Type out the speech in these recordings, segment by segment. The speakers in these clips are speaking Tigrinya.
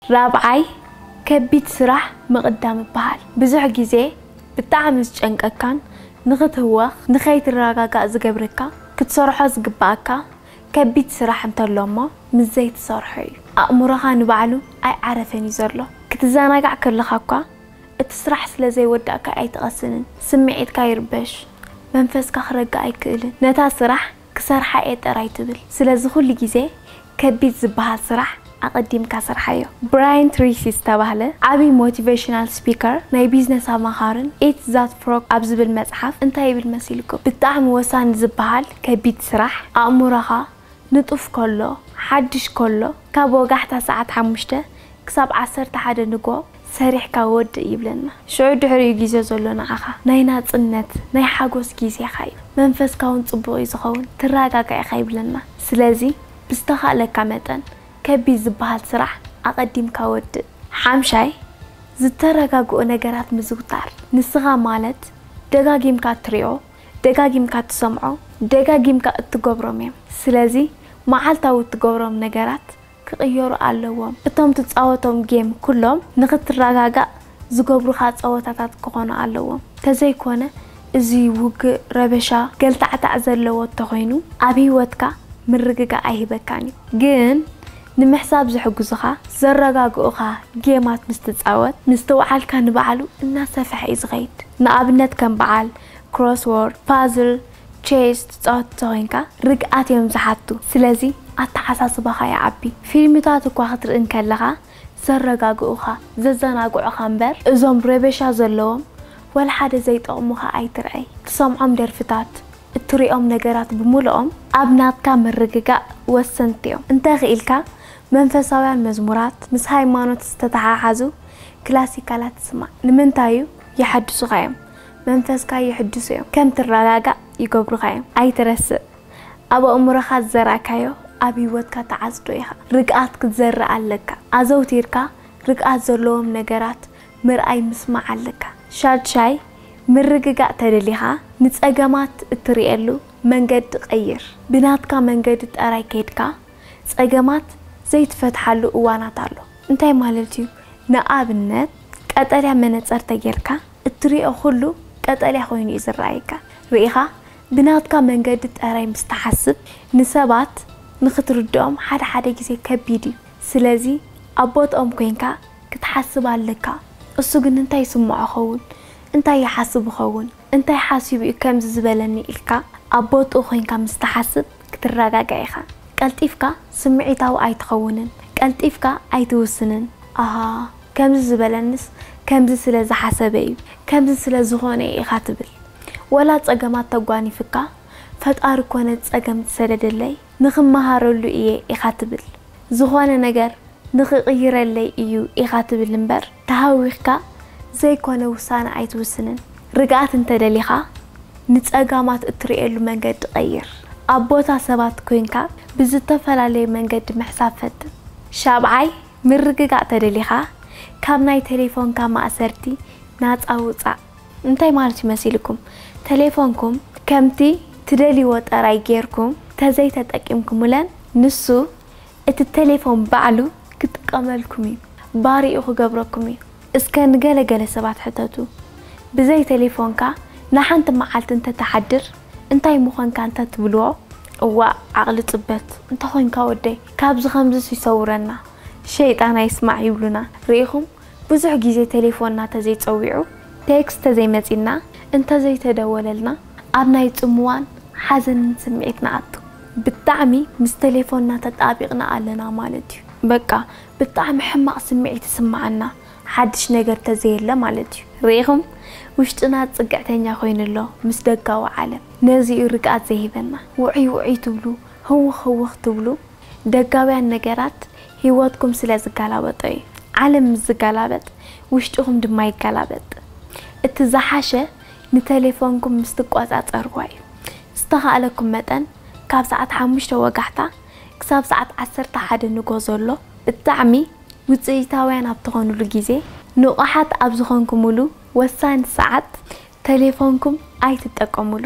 ራብዓይ ከቢድ ስራሕ ምቕዳም ይበሃል። ብዙሕ ግዜ ብጣዕሚ ዝጨንቀካን ንኽትህወኽ፣ ንኸይትረጋጋእ ዝገብረካ ክትሰርሖ ዝግበኣካ ከቢድ ስራሕ እንተሎ እሞ ምስ ዘይትሰርሖ እዩ። ኣእምሮኻ ንባዕሉ ኣይዓረፈን እዩ ዘሎ። ክትዘናጋዕ ከለኻ እኳ እቲ ስራሕ ስለ ዘይወዳእካዮ ኣይትቐስንን። ስምዒትካ ይርበሽ፣ መንፈስካ ክረግእ ኣይክእልን። ነታ ስራሕ ክሰርሓ እየ ጥራይ ትብል ስለዚ ኩሉ ግዜ ከቢድ ዝብሃል ስራሕ ኣቀዲምካ ስርሓዮ። ብራየን ትሪሲ ዝተባህለ ዓቢ ሞቲቨሽናል ስፒከር ናይ ቢዝነስ ኣማኻርን ኢት ዛት ፍሮግ ኣብ ዝብል መጽሓፍ እንታይ ይብል መሲልኩም ብጣዕሚ ወሳኒ ዝብሃል ከቢድ ስራሕ ኣእሙሮኻ ንጡፍ ከሎ ሓድሽ ከሎ ካብ ወጋሕታ ሰዓት ሓሙሽተ ክሳብ ዓሰርተ ሓደ ንግሆ ሰሪሕካ ወድእ ይብለና ሽዑ ድሕሪኡ ግዜ ዘሎ ንዓኻ ናይ ናጽነት ናይ ሓጎስ ግዜኻ እዩ መንፈስካ ውን ጽቡቕ እዩ ዝኸውን ትራጋጋ ኢኻ ይብለና ስለዚ ብዝተኻእለካ መጠን ከቢድ ዝብሃል ስራሕ ኣቐዲምካ ወድእ ሓምሻይ ዝተረጋግኦ ነገራት ምዝውታር ንስኻ ማለት ደጋጊምካ እትሪኦ ደጋጊምካ እትሰምዖ ደጋጊምካ እትገብሮም እዮም ስለዚ መዓልታዊ እትገብሮም ነገራት ክቅየሩ ኣለዎም እቶም ትጻወቶም ጌም ኩሎም ንክትራጋጋእ ዝገብሩካ ጸወታታት ክኮኑ ኣለዎም ተዘይኮነ እዚ ውግእ ረበሻ ገልታዕታዕ ዘለዎ እተኮይኑ ኣብ ሂወትካ ምርግጋእ ኣይህበካን እዩ ግን ንምሕሳብ ዝሕግዙካ ዘረጋግኡካ ጌማት ምስ ትጻወት ምስትውዓልካ ንባዕሉ እናሰፈሐ እዩ ዝከይድ ንኣብነት ከም በዓል ክሮስዎርድ ፓዝል ቼስ ትጻወት እንተኾይንካ ርግኣት እዮም ዝሓቱ ስለዚ ኣተሓሳስባኻ ይዓቢ። ፊልምታት እኳ ክትርኢ እንከለኻ ዘረጋግኡኻ፣ ዘዘናግዑኻ እምበር እዞም ረበሻ ዘለዎም ወላሓደ ዘይጠቕሙኻ ኣይትርኣይ። ትሰምዖም ደርፍታት፣ እትሪኦም ነገራት ብምሉኦም ኣብ ናትካ ምርግጋእ ወሰንቲ እዮም። እንተኽኢልካ መንፈሳውያን መዝሙራት፣ ምስ ሃይማኖት ዝተተሓሓዙ ክላሲካላት ስማዕ። ንምንታይ እዩ? የሐድሱኻ እዮም። መንፈስካ የሕድሱ እዮም ከም ትረጋጋእ ይገብሩኻ እዮም ኣይትረስእ ኣብ ኣእምሮኻ ዝዘራእካዮ ኣብ ሂወትካ ትዓጽዶ ኢኻ ርግኣት ክትዘርእ ኣለካ ኣዘውቲርካ ርግኣት ዘለዎም ነገራት ምርኣይ ምስማዕ ኣለካ ሻድሻይ ምርግጋእ ተደሊኻ ንጸገማት እትርእየሉ መንገዲ ቀይር ብናትካ መንገዲ ጠራይ ከይድካ ጸገማት ዘይትፈትሓሉ እዋናት ኣሎ። እንታይ ማለት እዩ ንኣብነት ቀጠልያ መነጸር ተጌርካ እትሪኦ ኩሉ ቀጠልያ ኮይኑ እዩ ዝረኣየካ። ርኢኻ ብናትካ መንገዲ ጠራይ ምስ ትሓስብ ንሰባት ንኽትርድኦም ሓደ ሓደ ግዜ ከቢድ እዩ። ስለዚ ኣብ ቦትኦም ኮይንካ ክትሓስብ ኣለካ። እሱ ግን እንታይ ይስምዖ ኸውን? እንታይ ይሓስብ ይኸውን? እንታይ ሓሲቡ እዩ ከምዚ ዝበለኒ ኢልካ ኣብ ቦትኡ ኮይንካ ምስ ትሓስብ ክትረጋጋእ ኢኻ። ቀልጢፍካ ስምዒታዊ ኣይትኸውንን። ቀልጢፍካ ኣይትውስንን። ኣሃ! ከምዚ ዝበለንስ ከምዚ ስለ ዝሓሰበ እዩ ከምዚ ስለ ዝኾነ እዩ ኢኻ ትብል ወላ ጸገማት ተጓኒፍካ ፈጣሪ እኮ ነቲ ጸገም ዝሰደደለይ ንኽመሃረሉ እየ ኢኻ ትብል ዝኾነ ነገር ንኽቕይረለይ እዩ ኢኻ ትብል እምበር ተሃዊኽካ ዘይኮነ ውሳነ ኣይትውስንን ርግኣት እንተደሊኻ ንጸጋማት እትርእየሉ መንገዲ ቀይር ኣብ ቦታ ሰባት ኮይንካ ብዝተፈላለየ መንገዲ ምሕሳብ ፈትን ሻብዓይ ምርግጋእ ተደሊኻ ካብ ናይ ተሌፎንካ ማእሰርቲ ናጻ ውጻእ። እንታይ ማለት እዩ መሲልኩም ተሌፎንኩም ከምቲ ትደልይዎ ጠራይ ጌርኩም ተዘይተጠቂምኩምለን ንሱ እቲ ተሌፎን ባዕሉ ክጥቀመልኩም እዩ ባርይኡ ክገብረኩም እዩ እስከ ንገለ ገለ ሰባት ሕተቱ ብዘይ ተሌፎንካ ንሓንቲ መዓልቲ እንተትሓድር እንታይ ምኾንካ እንተ ትብልዎ እዋእ ዓቅሊ ጽበት እንተ ኾንካ ወደይ ካብዚ ከምዝስ ይሰውረና ሸይጣን ኣይስማዕ ይብሉና ርኢኹም ብዙሕ ግዜ ቴሌፎንና ተዘይ ጸዊዑ ቴክስት ተዘይ መጺና እንተ ዘይተደወለልና ኣብ ናይ ጽምዋን ሓዘንን ስምዒት ንኣቱ ብጣዕሚ ምስ ቴሌፎንና ተጣቢቅና ኣለና ማለት እዩ በቃ ብጣዕሚ ሕማቅ ስምዒት ይስማዓና ሓድሽ ነገር ተዘየለ ማለት እዩ ርኢኹም ውሽጥና ጽግዕተኛ ኮይኑ ኣሎ ምስ ደጋዊ ዓለም ነዚ እዩ ርግኣት ዘይህበና ውዑይ ውዑይ ትብሉ ህውኽ ህውኽ ትብሉ ደጋውያን ነገራት ሂወትኩም ስለ ዝጋላበጦ እዩ ዓለም ምስ ዝጋላበጥ ውሽጥኹም ድማ ይጋላበጥ እቲ ዝሓሸ ንተሌፎንኩም ምስ ትቆጻጸርዋ እዩ ዝተኻእለኩም መጠን ካብ ሰዓት ሓሙሽተ ወጋሕታ ክሳብ ሰዓት ዓሰርተ ሓደ ንጎ ዘሎ ብጣዕሚ ውጽኢታውያን ኣብ ትኾኑሉ ግዜ፣ ንቑሓት ኣብ ዝኾንኩሙሉ ወሳኒ ሰዓት ተሌፎንኩም ኣይትጠቀሙሉ።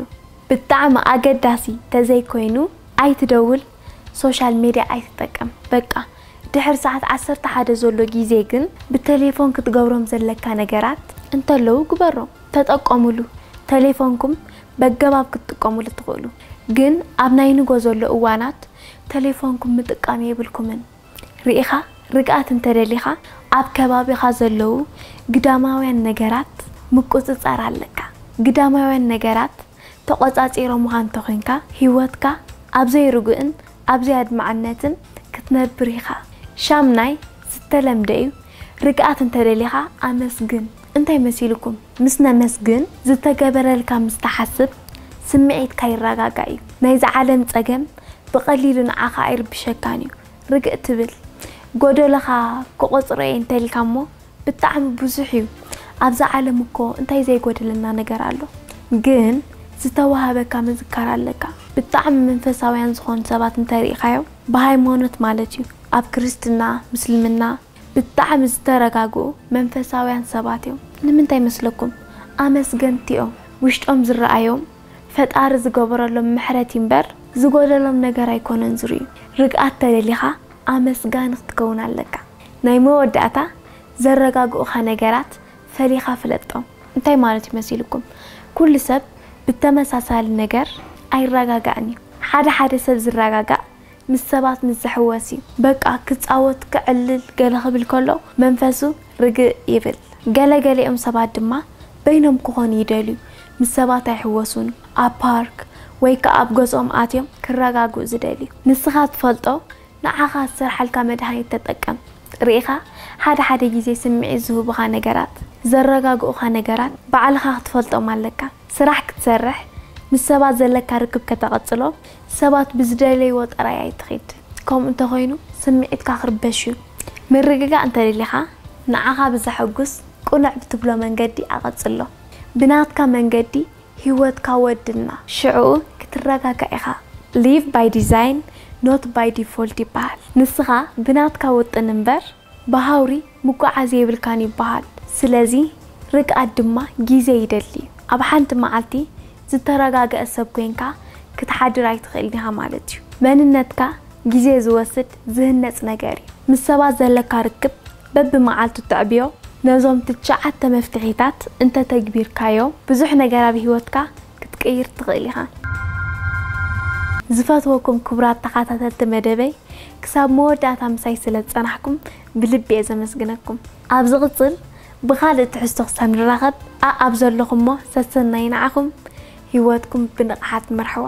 ብጣዕሚ ኣገዳሲ ተዘይኮይኑ ኣይትደውል፣ ሶሻል ሜድያ ኣይትጠቀም። በቃ ድሕሪ ሰዓት ዓሰርተ ሓደ ዘሎ ግዜ ግን ብተሌፎን ክትገብሮም ዘለካ ነገራት እንተለዉ ግበሮም። ተጠቀሙሉ፣ ተሌፎንኩም በገባብ ክትጥቀሙሉ ትኽእሉ፣ ግን ኣብ ናይ ንጎ ዘሎ እዋናት ተሌፎንኩም ምጥቃም የብልኩምን። ርኢኻ ርግኣት እንተ ደሊኻ ኣብ ከባቢኻ ዘለዉ ግዳማውያን ነገራት ምቁጽጻር ኣለካ። ግዳማውያን ነገራት ተቖጻጺሮምኻ እንተ ኾይንካ ህይወትካ ኣብ ዘይርጉእን ኣብ ዘይኣድማዕነትን ክትነብር ኢኻ። ሻምናይ ዝተለምደ እዩ ርግኣት እንተ ደሊኻ ኣመስግን። እንታይ መሲሉኩም ምስ ነመስግን ዝተገበረልካ ምስ ትሓስብ ስምዒትካ ይረጋጋእ እዩ ናይዛ ዓለም ጸገም ብቀሊሉ ንዓኻ ኣይርብሸካን እዩ ርግእ ትብል ጎደሎኻ ክቆጽሮ እየ እንተልካ እሞ ብጣዕሚ ብዙሕ እዩ ኣብዛ ዓለም እኮ እንታይ ዘይጎደለና ነገር ኣሎ ግን ዝተዋሃበካ ምዝካር ኣለካ ብጣዕሚ መንፈሳውያን ዝኾኑ ሰባት እንተሪእኻዮም ብሃይማኖት ማለት እዩ ኣብ ክርስትና ምስልምና ብጣዕሚ ዝተረጋግኡ መንፈሳውያን ሰባት እዮም ንምንታይ መስለኩም ኣመስገንቲ እዮም ውሽጦም ዝረኣዮም ፈጣሪ ዝገበረሎም ምሕረት እዩ እምበር ዝጎደሎም ነገር ኣይኮነን ዝርእዩ ርግኣት ተደሊኻ ኣመስጋኒ ክትከውን ኣለካ ናይ መወዳእታ ዘረጋግኡኻ ነገራት ፈሊኻ ፍለጦም እንታይ ማለት እዩ መሲልኩም ኩሉ ሰብ ብተመሳሳሊ ነገር ኣይራጋጋእን እዩ ሓደ ሓደ ሰብ ዝራጋጋእ ምስ ሰባት ምስ ዝሕወስ እዩ በቃ ክጻወት ከዕልል ገለ ክብል ከሎ መንፈሱ ርግእ ይብል። ገለ ገሊኦም ሰባት ድማ በይኖም ክኾኑ ይደልዩ ምስ ሰባት ኣይሕወሱን ኣብ ፓርክ ወይ ከኣ ኣብ ገዝኦም ኣትዮም ክረጋግኡ ዝደልዩ። ንስኻ ትፈልጦ ንዓኻ ዝሰርሓልካ መድሃኒት ተጠቀም ርኢኻ ሓደ ሓደ ግዜ ስምዒት ዝህቡኻ ነገራት ዘረጋግኡኻ ነገራት ባዕልኻ ክትፈልጦም ኣለካ። ስራሕ ክትሰርሕ፣ ምስ ሰባት ዘለካ ርክብ ከተቐጽሎ፣ ሰባት ብዝደለይዎ ጥራይ ኣይትኺድ። ከምኡ እንተኾይኑ ስምዒትካ ክርበሽ እዩ። ምርግጋእ እንተደሊኻ፣ ንዓኻ ብዘሐጉስ ቅኑዕ ብትብሎ መንገዲ ኣቐጽሎ። ብናትካ መንገዲ ህይወትካ ወድና። ሽዕኡ ክትረጋጋእ ኢኻ። Live by Design, not by Default ይበሃል። ንስኻ ብናትካ ውጥን እምበር፣ ብሃውሪ ምጉዓዝ የብልካን ይበሃል። ስለዚ ርግኣት ድማ ግዜ ይደሊ። ኣብ ሓንቲ መዓልቲ ዝተረጋግኣ ሰብ ኮይንካ ክትሓድር ኣይትኽእልን ኢኻ ማለት እዩ። መንነትካ ግዜ ዝወስድ ዝህነጽ ነገር እዩ። ምስ ሰባት ዘለካ ርክብ በብመዓልቱ ተዕብዮ። ነዞም ትሽዓተ መፍትሒታት እንተተግቢርካዮም ብዙሕ ነገር ኣብ ህይወትካ ክትቅይር ትኽእል ኢኻ። ዝፈትወኩም ክቡራት ተኻታተልቲ መደበይ ክሳብ መወዳእታ ምሳይ ስለ ዝጸናሕኩም ብልቢ እየ ዘመስግነኩም። ኣብ ዝቕጽል ብኻልእ ትሕዝቶ ክሳብ ንራኸብ ኣኣብ ዘለኹሞ ሰሰናዩ ንዓኹም ሂወትኩም ብንቕሓት ምርሕዋ።